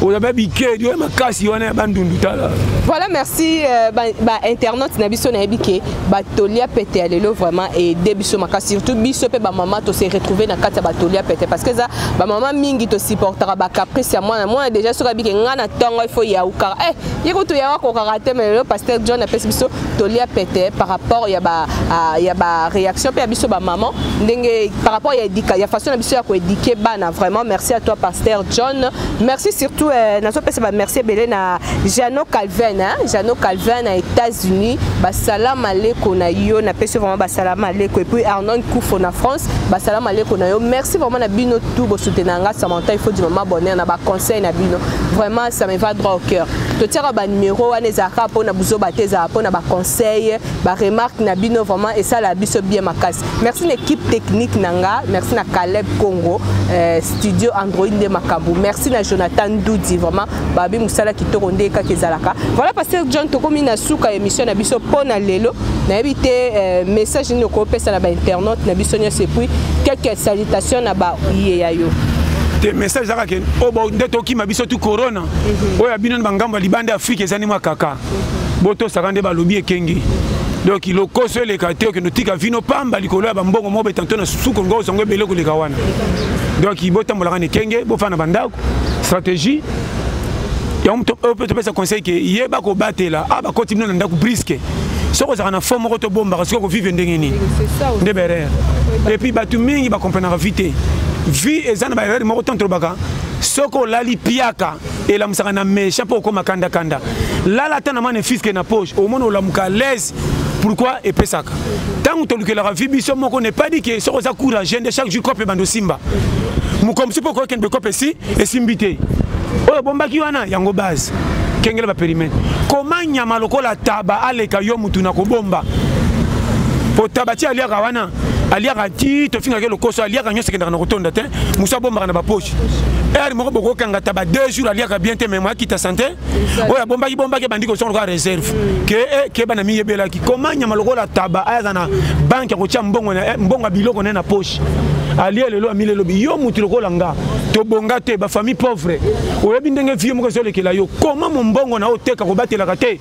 oza ba bikedi oyo makasi wana ya bandundu tala voilà merci euh, bainternaute ba na biso nayebi ke batoli ya pete ya lelo vraiment ede biso makasi surtout biso mpe bamama tose retrouve na kati ya batoli ya pete parce que eza bamama mingi tosupportaka bacaprice ya mwana mwana déjà soki abike ngai na ntongo ifo yaukaka e eh, ye kutu yawa kokaka te ma lelo paster john apesi biso toli ya pete par rapport ya ba uh, ya ba réaction pe ya biso ba maman ndenge par rapport ya éducation ya façon na biso ya ko éduquer bana vraiment merci à toi pasteur John merci surtout euh, nazo pesa ba merci belé na Jeannot Calvin hein Jeannot Calvin na États-Unis ba salam aleko na yo na pesi vraiment ba salam aleko et puis Arnon Koufo na France ba salam aleko na yo merci vraiment na bino tout bo soutenanga Samantha il faut du maman bonheur na ba conseil na bino vraiment ça me va droit au cœur totiaka ba numero wana ezalaka mpo na buzoba te ezalaka mpo na ba conseil ba remarque na bino vraiment esala biso bien makasi merci na équipe technique na nga merci na Caleb Congo euh, studio Android nde makambo merci na Jonathan Doudi vraiment babi musala kitoko nde kaka ezalaka voilà pasteur John tokomi na suka émission na biso mpo na lelo nayebi te euh, message nini okopesa na ba internaute na biso nyonso epuis quelques salutations na ba iye ya yo te message ezalaka ke oyo oh, nde tokima biso tu corona mhm. oyo ya bino na bangambo ya libanda ya afrika eza nde mwa kaka mhm. botosaka nde balobi ekenge donc lokoso eleka te okende otika vino pamba likolo ya bambongo moko beta nto na suku ngo ozango ebele koleka wana donc botambolaka na ekenge bofana na bandako stratégie yango mpe topesa conseil ke yeba kobatela a ah, bakoti bino na ndako briske soki ozalaka na fo moko tobombaka soki okovive ndenge nini nde berere epuis bato mingi bakomprenaka vi te vie eza na baerreur moko ntango tolobaka soki olali piaka elamusaka na mesha mpo okoma kanda kanda lala ata na mane fiske na poche omona olamuka alaise pourquoi epesaka ntango tolukelaka vi biso moko ne pas dit ke soki oza courage nde chaque jour cope ebanda osimba mokolo mosusu mpo okoki kende bekope esi esimbi te oyo obombaki wana yango base kengela baperimete koma nyama lokola taba aleka yo motu na kobomba mpo taba ti aliaka wana aliaka ti tofingaki lokoso aliaka nyonso ekendaka na kotonda te mosu abombaka na bapoche heure moko bokokangata ba deux jours aliaka bien te meme akita sante oyo abombaki bombaki ebandi kosonga lokola réserve ke eh, keba na miyebelaki koma nyama lokola taba ayaza na banke ya kotya mbongo eh, mbongo ya biloko naye na poche alie lelo amile elobi yo motu lokola nga tobonga te bafamille pauvre oyebi ndenge vie moko ezolekela yo koma mombongo na oteka kobatelaka te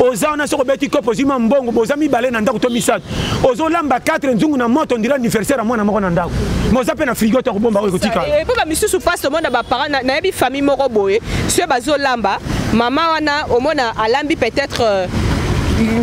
oza wana soki obeti kopo ozwi mwa mbongo boza mibale na ndako to misato ozo lamba 4 nzungu na moto ndira anniversaire ya mwana moko na ndako mais oza mpe na frigo te akobomba oyo ekotika eh, mpo bamisusu mpasi omona baparent nayebi famille moko boye soki bazolamba mama wana omona alambi peut-être euh,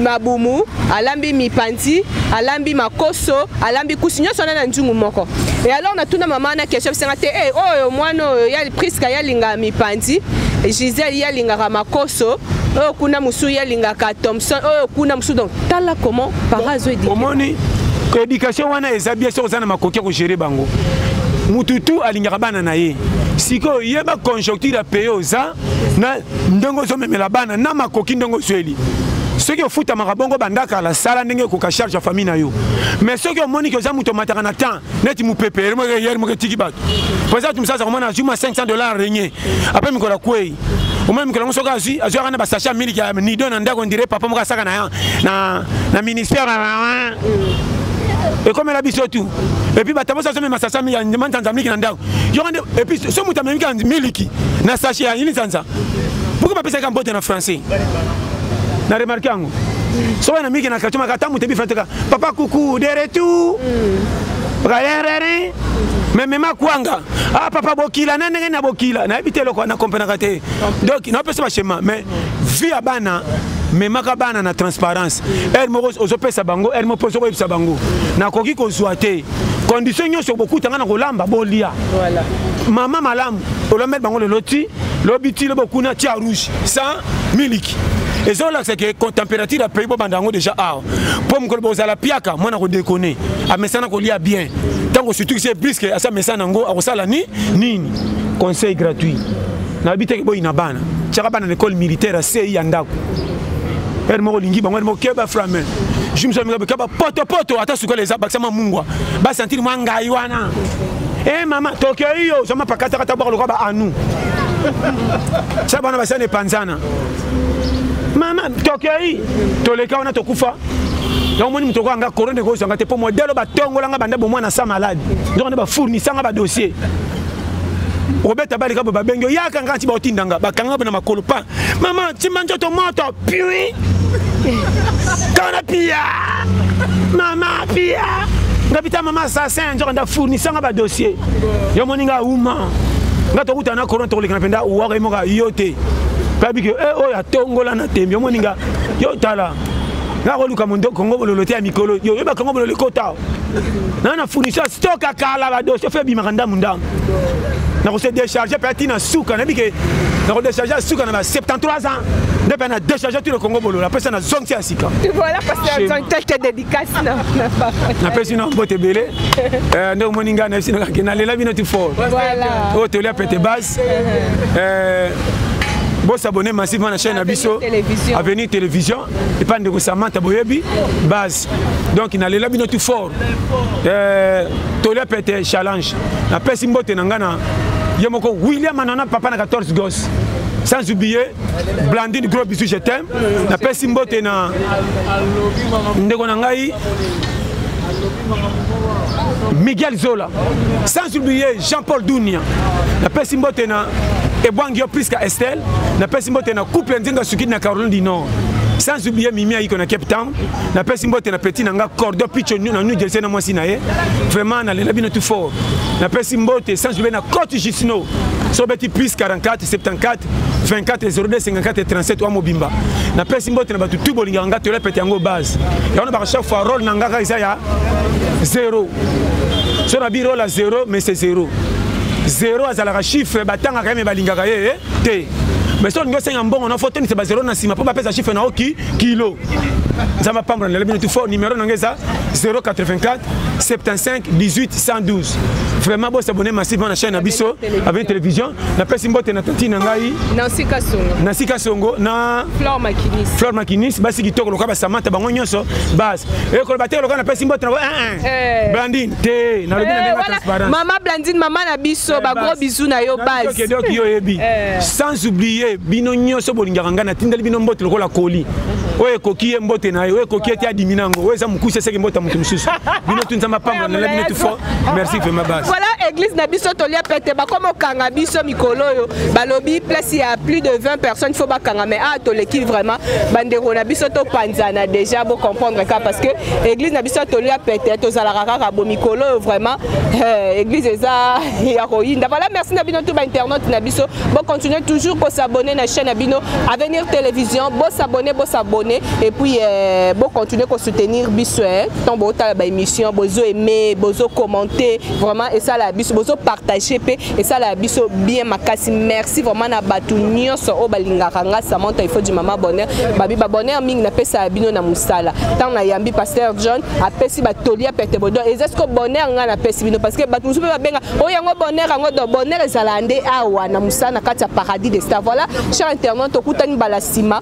mabumu alambi mipanzi alambi makoso alambi kusi nyonso wana na nzungu moko e alors natuna mama wana question bisanga te e oyo mwana oyo ya priska yalingaka mipanzi gisele yalingaka makoso oyo kuna mosusu yalingaka thomson oyo kuna mosusu donc tala comment para azo éduquer omoni éducation wana eza bien soki oza na makoki ya kogere bango mutu tu alingaka bana na ye sikoyo yeba conjoncture ya pays oza na ndenge ozomemela bana na makoki ndenge ozweli soki ofutamaka bongo bandakala sala ndenge ekoka charge ya famille na yo mais soki omoni ke oza moto omataka na temps neti mopepe yere moko etiki bato président tumisasa komona azwi mwa 500 dollar renye apres mikolo akwei omoni mikolo yango soki azwi azwi aka na basache ya miliki ya nido na ndako ondire papa moko asaka na na ministère ekomela biso tu epuis batabosi azomema sasa manzanza miliki na ndako yoko nde epuis so moto amemika miliki na sache ya ini nzanza pourkui bapesaki mbote na français na remarke yango soki na miki na kacho maka tamu te bifra teka papa kuku de retour rarerere mais mema kwanga ah papa bokila na ndenge na bokila nayebi te eloko na comprenaka te donc napesa bashema mais vie ya bana memaka bana na transparence heure moko ozopesa bango heure moko mpe ozokoyebisa bango nakoki kozwa te condition nyonso bokuta ngai na kolamba bolia mama malamu olambeli bango lelo ti lobi ti lobi okuna tia rouge sans miliki eza olakisa ke température ya pays bobanda yango déjà awa mpo mokolo bozala piaka mwana kodekone amesana kolia bien ntango osutukisi ye briske asi amesana yango akosala ni nini conseil gratuit nayebi teke boyina bana tiaka bana na école militaire ya sei ya ndako ere moko olingi bango ere moko keba frame jumsomika poto poto ata sukala eza bakisama mungwa basantiri mwa ngai wana Eh mama Tokyo hiyo zama pakata kata bwa lokola ba anu. Sasa bana basana epanzana. Mama Tokyo hii toleka wana tokufa. yango omoni moto okoyanga korone ekozwanga te mpo modele batongolanga banda bomwana sa malade nzokande bafournisanga badossier obeta balika bo babengi oyaka nga nti baotindanga bakanga bo na makolo pa mama timba nzoto moto pui tona pia mama pia nga bita mama assassin nzoka nda fournisa nga badossier yo moni nga uma nga tokuta na corona tokolekana mpenza uwaka ye moka yo te kabi ke eh, oyo atongola na tembe yo moni nga yo tala nga koluka mondo kongo bololo te ya mikolo yo oyeba kongo bololo ekota na na fournisseur stock akala badossier fe ebimaka ndambu ndambu na kose décharge mpe atina suka nayebi ke na kodécharge ya suka na ba 73 ans nde mpe na décharge tino kongo bolola apesa na zongisi ya sika napesi na mbote ebele eh, nde omoni ngai nayebisi nakake nalela bino ti fort oyo oh, tolia pete base eh, bosabone massivement na chaîne na biso avenue télévision epa ndeko samanta boyebi base donc nalela bino tout fort euh, tolia pete challenge napesi mbote na ngai na ye moko william anana papa na 14 gos sans oublier blandine gros bisu je t'aime napesi mbote na ndeko na ngai miguel zola sans oublier jean paul dunia napesi mbote na ebwangi yo priska estel napesi mbote na couple ya nzenga sukidi na caroline du nord sans oublier mimi ayiko na cape town napesi mbote na petit na nga cordo picho na new jersey na mwasi na ye vraiment nalela bino tout fort napesi mbote sans oublier na cote jusno sobeti plus 44 74 24 02 54 37 wa mobimba napesi mbote na bato tu bolingaka nga toyela pete yango base yango na baka chaque fois role na nga kaka eza ya zero so na bi role ya zero mais c'est zero zero azalaka chiffre batangaka ye me balingaka ye eh, te mais soki olingi osenga mbongo na fo tondisa bazero na nsima mpo bapesa chiffre na yo ki kilo nzambe apambola na lelo bino tu fo numero na ngai eza 084 75 18 112 vraiment bosabone massivement na chaîne na biso avec télévision napesi mbote na tati na ngai na sika songo na flore makinis basi kitoko lokola basamata bango nyonso base ekoloba te lokola napesi mbote na eh, eh. blandine te nalobi na eh, ndenge transparence mama blandine mama na biso eh, ba gros bisous na yo base que donc yo yebi eh. sans oublier bino nyonso bolingaka ngai natindeli bino mbote lokola koli oyo ekoki ye mbote na ye oyo ekoki ete adimi nango oyo eza mokuse eseki mbote ya moto mosusu bino tu nzambe apambola nala bino tu fort merci vraiment base voilà église na biso tolia pete bakoma okanga biso mikolo oyo balobi place ya plus de 20 personnes faut bakanga mais ah toleki vraiment bandeko na biso topanzana déjà bocomprendre ka parce que eglise na biso ya toli ya pete tozalaka kaka bo mikolo oyo vraiment eh, eglise eza ya koyinda voilà merci na bino tout bainternaute na biso bocontinue toujours kosabonne na chaîne na bino avenir télévision bosabonne bosabonne et puis eh, bocontinue kosoutenir biso eh. ntango bootala baémission bozo aime bozo commente vraiment esala ya biso bozo partage mpe esala ya biso bien makasi merci vraiment na bato nyonso oyo balingaka nga samanta ifo du mama bonheur babi babonheur mingi napesa ya bino na mosala ntango nayambi pasteur john apesi batoli ya pete bodo eza siko bonheur ngai napesi bino parce que bato mosusu mpe babenga oyo oh, yango bonheur yango do bonheur ezalaka nde awa na mosala na kati ya paradis de star voilà cher internaute tokutani bala nsima